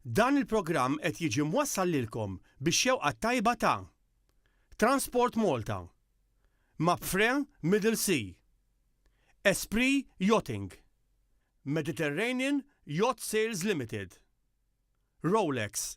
Dan il-programm qed jiġi mwassal lilkom bix-xewqa t-tajba ta' Transport Malta, Mapfre Middle Sea, Esprit Yachting, Mediterranean Yacht Sales Limited, Rolex,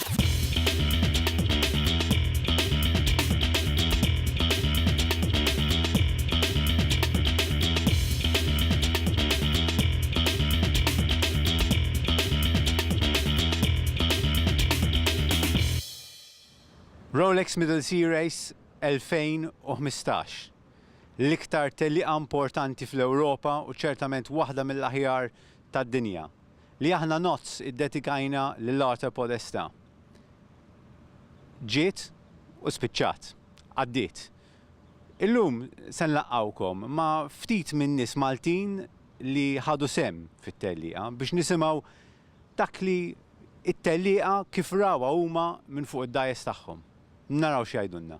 Rolex Middle Series 2015 L-iktar tellieqa importanti fl-Ewropa u ċertament waħda mill-aħjar tad-dinja. li aħna nozz iddedikajna lil Arthur Podesta ġiet u spiċċat, għaddiet. Illum se nlaqqgħukom ma' ftit min-nies Maltin li ħadu sehem fit-tellieqa biex nisimgħu dak li t-tellieqa kif rawha huma minn fuq id-dajjes tagħhom. Naraw x'jgħidulna.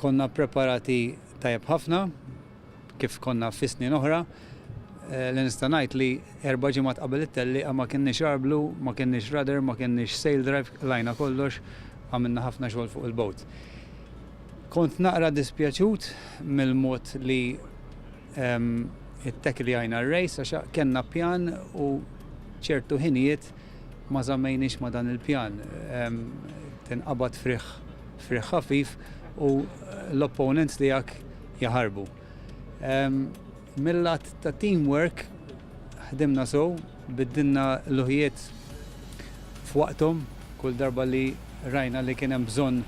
Konna ppreparati tajjeb ħafna, kif konna fis-snin oħra, li nista' ngħid li erba' ġimgħat qabel it-tellieqa ma kinniex arblu, ma kinniex rudder, ma kinniex sail drive, qlajna kollox, għamilna ħafna xogħol fuq il-boat. Kont naqra dispjaċut mill-mod li ttacklijajna r-race għax kellna pjan u ċertu ħinijiet ma żammejniex ma' dan il-pjan. Tinqabad frigħ. F'riħ ħafif u l-opponents tiegħek jaħarbu. Mil-lat ta' team work ħdimna sew, biddilna l-luħjiet f'waqthom kull darba li rajna li kien hemm bżonn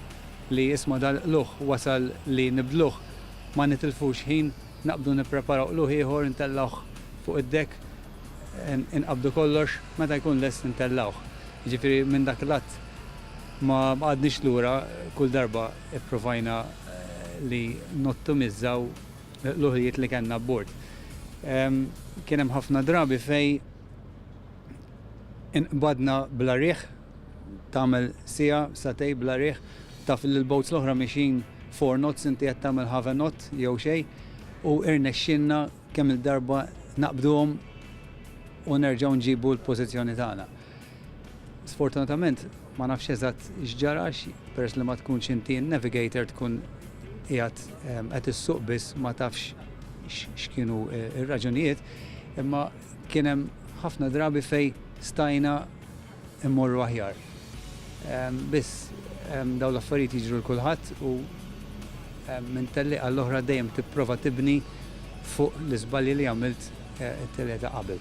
li isma' dal-qlugħ wasal li nibdluh ma nitilfux ħin Naqbdu nippreparaw qlugħ ieħor intellgħuh fuq id-dekk, inqabdu kollox, meta jkun lest intellgħuh. Jiġifieri minn dak l-att ma qgħadniex lura, kull darba ppruvajna li nottimizzaw l-qluħijiet li kellna abbord. Kien hemm ħafna drabi fejn inqbadna bla riħ. Tagħmel siegħa, satej bla riħ, taf li l-boats l-oħra miexjin four knots inti qed tagħmel half a knot jew xejn u irnexxielna kemm-il darba naqbduhom u nerġgħu nġibu l-pożizzjoni tagħna. Sfortunatament ma nafx eżatt x'ġara għax peress li ma tkunx inti n-navigator tkun qiegħed qed issuq biss ma tafx x'kienu r-raġunijiet imma kien hemm ħafna drabi fejn stajna immorru aħjar. Biss dawn l-affarijiet jiġru 'l kulħadd u minn tellieqa għall-oħra dejjem tipprova tibni fuq l-iżbalji li għamilt it-tellieqa ta' qabel.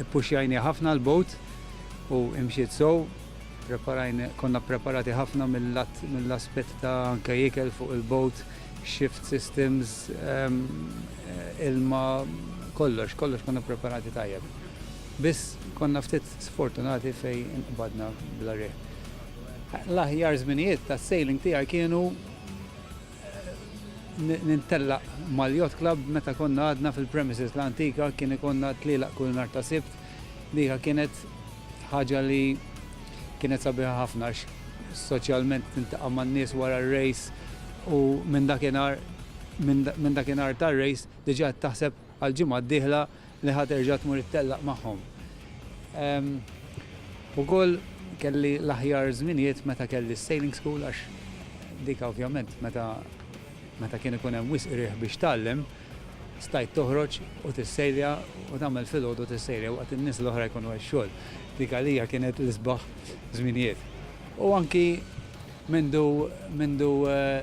Ippuxxjajniha ħafna 'l bogħod u imxiet sew, preparajn, konna ppreparati ħafna mill-lat, mill-aspett ta' anke ikel fuq il-bogħod, shift systems, ilma, kollox, kollox konna ppreparati tajjeb. Biss konna ftit sfortunati fejn inqbadna bla riħ. L-aħjar żminijiet tas-sailing tiegħi kienu nintellaq mal-Yacht Club meta konna għadna fil-premises l-antika kien ikonna tlielaq kull nhar ta' Sibt. Dika kienet ħaġa li kienet sabiħa ħafna għax soċjalment tintaqa' man-nies wara r-rejs u minn dakinhar minn dakinhar tar-rejs diġà qed taħseb għall-ġimgħa d-dieħla li ħa terġa' tmur ittellaq magħhom. Ehm, ukoll kelli l-aħjar żminijiet meta kelli s-sailing school għax dik ovvjament meta meta kien ikun hemm wisq riħ biex tgħallem, stajt toħroġ u tissejlja u tagħmel filgħodu tissejlja waqt in-nies l-oħra jkunu għax xogħol. Dik għalija kienet l-isbaħ żminijiet. U anki mindu mindu eh,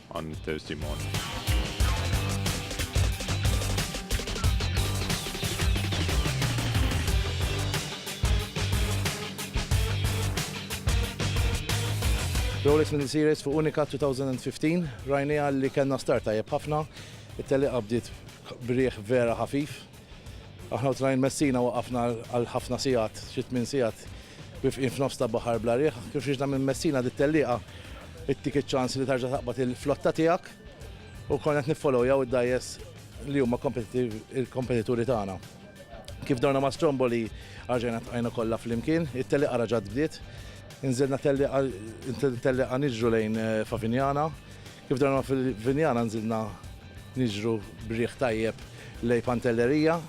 għal Mister Simon. Rolex Middle Series fuq Unica 2015, rajni għalli kena start tajjeb ħafna, it-teliqa bdiet brieħ vera ħafif, Aħna u train Messina waqafna għal ħafna sigħat, xi tmien sigħat, wifqin f'nofs ta' baħar bla riħ. Kif riġna minn Messina dik tellieqa ittik iċ-ċans li terġa' taqbad il-flotta tiegħek u konna qed niffolowjaw id-dgħajjes li huma kompetituri tagħna. Kif dawna ma' Stromboli arġajna tqajna kollha flimkien, it-tellieqa raġgħet bdiet, inżilna tellieqa niġru lejn Favignana, Kif donnna fil-Vinjana nżilna niġru b'riħ tajjeb lejn Pantelleria.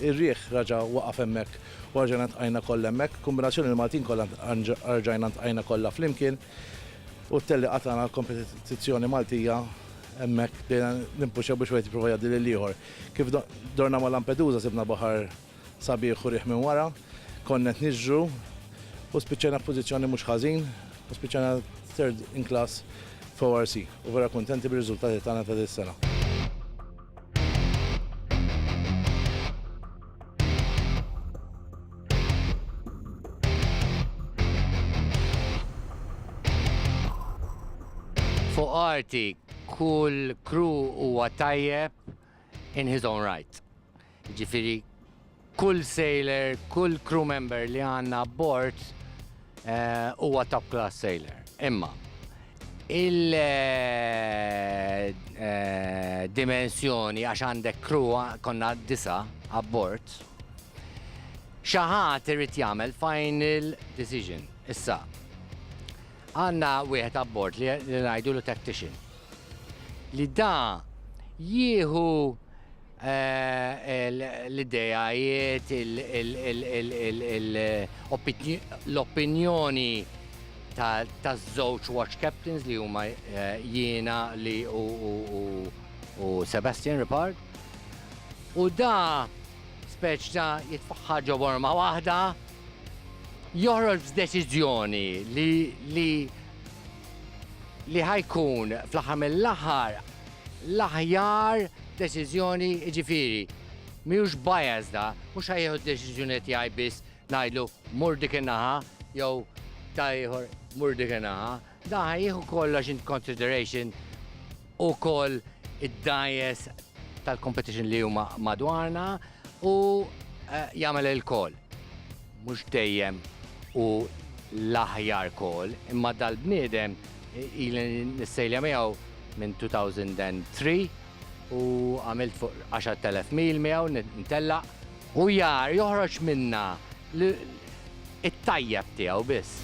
Ir-riħ raġa' waqaf hemmhekk u erġajna ntqajna kollha hemmhekk. Kombinazzjoni li Maltin kollha erġajna ntqajna kollha flimkien u t-tellieqa tagħna għall-kompetizzjoni Maltija hemmhekk bdejna nimpuxxaw biex wieħed jipprova jgħaddi lill-ieħor. Kif dorna ma' Lampedusa sibna baħar Sabiħ u riħ minn wara, konna qed niġru u spiċċajna f'pożizzjoni mhux ħażin u spiċċajna third in class f'ORC u vera kuntenti bir-riżultati tagħna ta' dis-sena. Fuq arti kull crew huwa tajjeb, in his own right. Jiġifieri kull sailor, kull crew member li għandna abbord huwa top class sailor. Imma il-dimensjoni għax għandek crew konna disa' abbord, xi ħadd irid jagħmel final decision. Issa, għandna wieħed abbord li ngħidulu tactician. li da jieħu l-ideajiet, l-opinjoni taż-żewġ watch captains li huma jiena li u Sebastian Ripard. U da speċ ta' jitfaħħar ġo borma waħda, joħroġ b'deċiżjoni li li ħa jkun fl-aħħar mill-aħħar l-aħjar deċiżjoni jiġifieri mhijiex bias da, mhux ħa jieħu d-deċiżjoni tiegħi biss ngħidlu mur dik in-naħa jew ta' ieħor mur dik in-naħa, da ħa jieħu kollox in consideration ukoll id-dajes tal-competition li huma madwarna u jagħmel il-call. Mhux dejjem hu l-aħjar call, imma dal-bniedem ili nissejlja miegħu minn 2003 u għamilt fuq 10,000 mil miegħu ntellaq. U jar joħroġ minnha l, it-tajjeb tiegħu biss.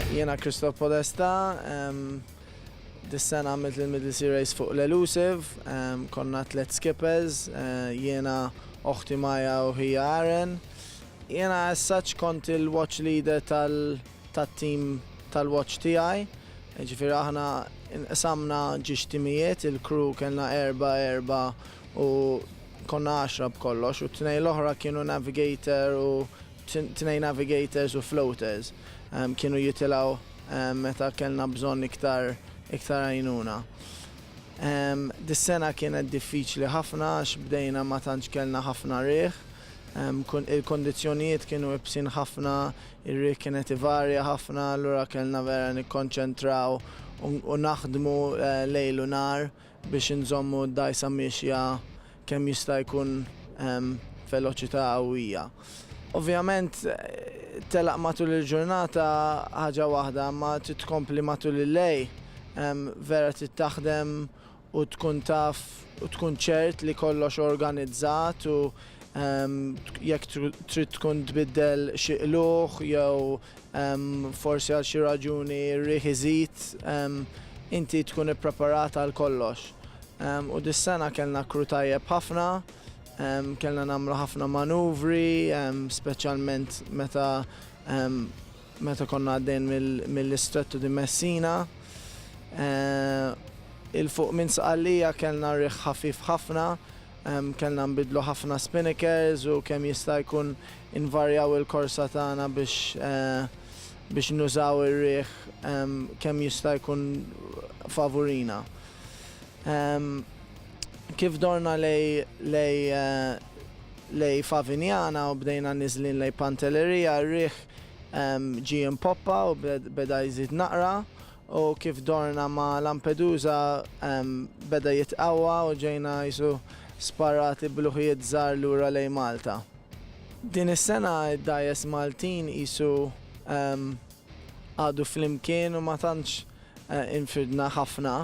Jiena Christoph Podesta, dis-sena għamilt l-Middle Sea Race fuq l-Elusive, konna tliet skippers, jiena oħti Maja u ħija Aren. Jiena as such kont il-watch leader tat-tim tal-watch tiegħi, jiġifieri aħna inqsamna ġiex timijiet, il-crew kellna erbgħa erbgħa u konna għaxra b'kollox u t-tnejn l-oħra kienu navigator u tnejn navigators u floaters kienu jitilgħu meta kellna bżonn iktar iktar għajnuna. Dis-sena kienet diffiċli ħafna għax bdejna ma tantx kellna ħafna riħ, Il-kondizzjonijiet kienu ibsin ħafna, ir-riħ kien qed ivarja ħafna, allura kellna vera nikkonċentraw u naħdmu lejl u nhar biex inżommu d-dgħajsa miexja kemm jista' jkun b'veloċità qawwija. Ovvjament telaq matul il-ġurnata ħaġa waħda, imma trid tkompli matul il-lejl, vera trid taħdem u tkun taf u tkun ċert li kollox organizzat u jekk trid tkun tbiddel xi qlugħ jew forsi għal xi raġuni r-riħ iżid, inti tkun ippreparat għal kollox. U dis-sena kellna crew tajjeb ħafna, kellna nagħmlu ħafna manuvri, speċjalment meta Meta konna għaddejn mill-Istrettu di Messina, 'il fuq minn Sqallija kellna riħ ħafif ħafna, kellna nbiddlu ħafna spinnekers u kemm jista' jkun invarjaw il-korsa tagħna biex nużaw ir-riħ kemm jista' jkun favurina. Kif dorna lejn Favignana u bdejna niżlin lejn Pantelleria, ir-riħ Ġie impoppa u beda jżid naqra u kif dorna ma' Lampedusa beda jitqawwa u ġejna qisu sparati b'luħjiet żgħar lura lejn Malta. Din is-sena d-dgħajjes Maltin qisu għadu flimkien u ma tantx Infridna ħafna,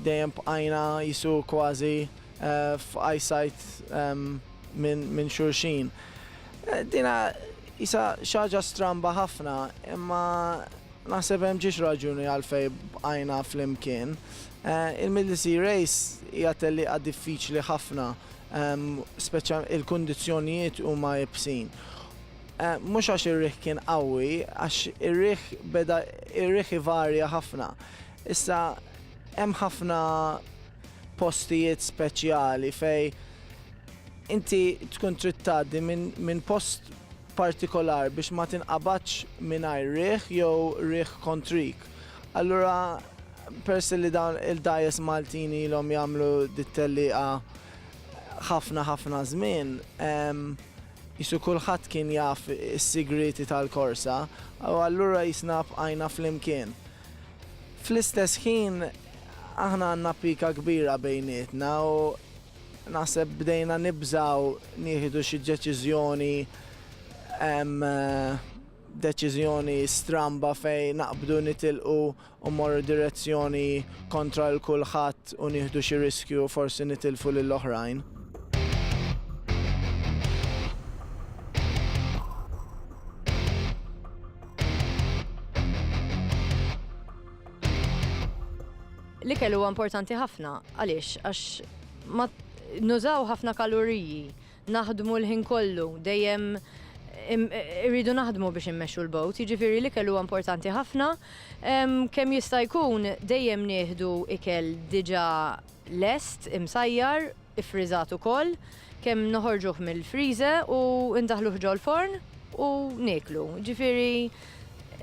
dejjem bqajna qisu kważi f'eyesight minn xulxin. Dina qisha xi ħaġa stramba ħafna, imma naħseb hemm ġiex raġuni għalfejn bqajna flimkien. Il-Middle Sea Race hija tellieqa diffiċli ħafna, speċjalment il-kundizzjonijiet huma iebsin. Mhux għax ir-riħ kien qawwi, għax ir-riħ beda ir-riħ ivarja ħafna. Issa hemm ħafna postijiet speċjali fej inti tkun trid tgħaddi minn post partikolar biex ma tinqabadx mingħajr riħ jew riħ kontrik. Allura peress li dawn il-dgħajjes Maltin ilhom jagħmlu dit-tellieqa ħafna ħafna żmien, Qisu kulħadd kien jaf is-sigrieti tal-korsa u allura qisna bqajna flimkien. Fl-istess ħin aħna għandna pika kbira bejnietna u naħseb bdejna nibżgħu nieħdu xi deċiżjoni deċiżjoni stramba fejn naqbdu nitilqu u mmorru direzzjoni kontra lil kulħadd u nieħdu xi riskju u forsi nitilfu lil oħrajn. L-ikel huwa importanti ħafna għaliex għax nużaw ħafna kaloriji Naħdmu l-ħin kollu, dejjem irridu naħdmu biex immexxu l-bogħod, jiġifieri l-ikel huwa importanti ħafna. Kemm jista' jkun dejjem nieħdu ikel diġà lest, imsajjar, iffriżat ukoll, kemm noħorġuh mill-friże u ndaħħluh ġol-forn u nieklu. Jiġifieri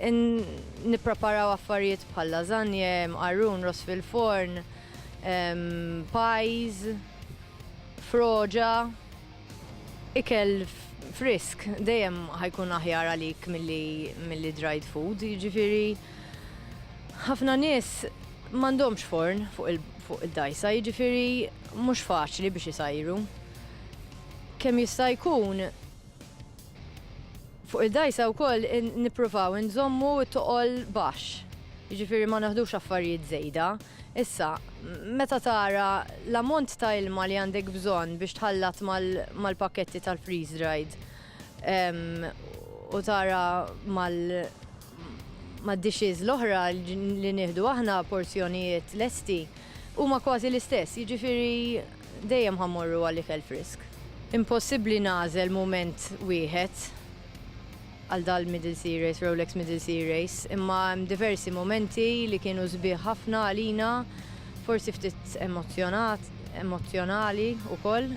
nippreparaw affarijiet bħal lasagne, mqarrun, ross fil-forn. pies, froġa, ikel frisk dejjem ħajkun aħjar għalik milli dried food, jiġifieri ħafna nies m'għandhomx forn fuq id-dgħajsa, jiġifieri mhux faċli biex isajru. Kemm jista' jkun Fuq id-dgħajsa wkoll nippruvaw inżommu t-toqol baxx, jiġifieri ma naħdux affarijiet żejda. Issa, meta tara l-ammont ta' ilma li għandek bżonn biex tħallat mal-pakketti tal-freeze dried u tara mad-dishes l-oħra li nieħdu aħna porzjonijiet lesti, huma kważi l-istess, jiġifieri. Dejjem ħa mmorru għal ikel frisk. Impossibbli nagħżel mument wieħed għal dal-Middle Sea Race, Rolex Middle Sea Race, imma hemm diversi mumenti li kienu sbieħ ħafna għalina, forsi ftit emozzjonat, emozzjonali wkoll.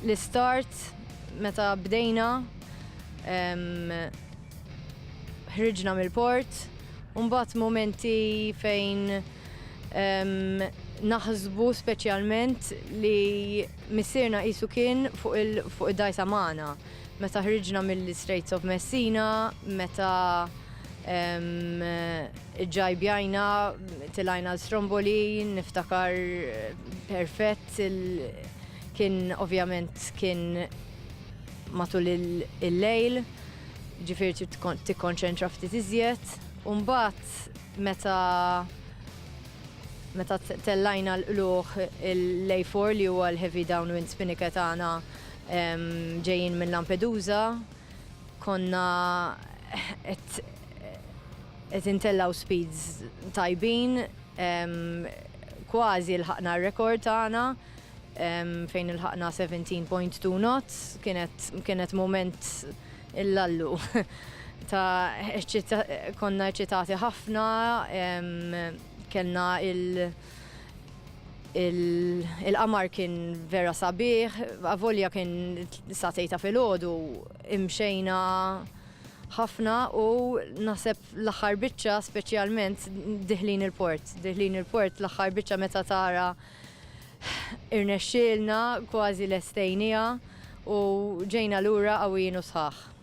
L-istart meta bdejna, Ħriġna mill-port, u mbagħad mumenti fejn naħsbu speċjalment li missierna qisu kien fuq id-dgħajsa magħna. Meta ħriġna mill-Straits of Messina, meta ġġajbjajna tilgħajna għal Stromboli, niftakar perfett, kien ovvjament kien matul il-lejl, ġifieri trid tikkonċentra ftit iżjed, u mbagħad meta meta tellajna l-qluħ l-A4 li huwa l-heavy downwind spinika tagħna ġejjin minn Lampedusa, konna qed intellaw speeds tajbin, kważi lħaqna r-rekord tagħna. fejn ilħaqna 17.2 knots kienet mument il-lallu ta' konna eċitati ħafna kellna il- il-qamar kien vera sabiħ, avolja kien satejta fil-ħodu, imxejna ħafna u naħseb l-aħħar biċċa speċjalment diħlin il-port. Diħlin il-port l-aħħar biċċa meta tara Irnexxielna, kważi lestejnieha u ġejna lura qawwijin u sħaħ.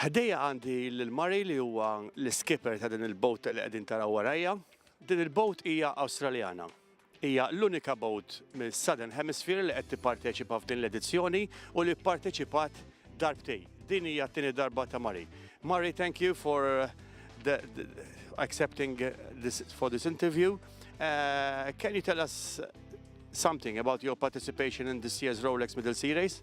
Ħdejja għandi lil Murray li huwa l-iskipper ta' din il-boat li qegħdin taraw warajja. Din il-boat hija Awstraljana. Hija l-unika boat mis-Southern Hemisphere li qed tipparteċipa f'din l-edizzjoni u li pparteċipat darbtej. Din hija t-tieni darba ta' Mari. Mari, thank you for the, the accepting this for this interview. Uh, can you tell us something about your participation in this year's Rolex Middle Sea Race?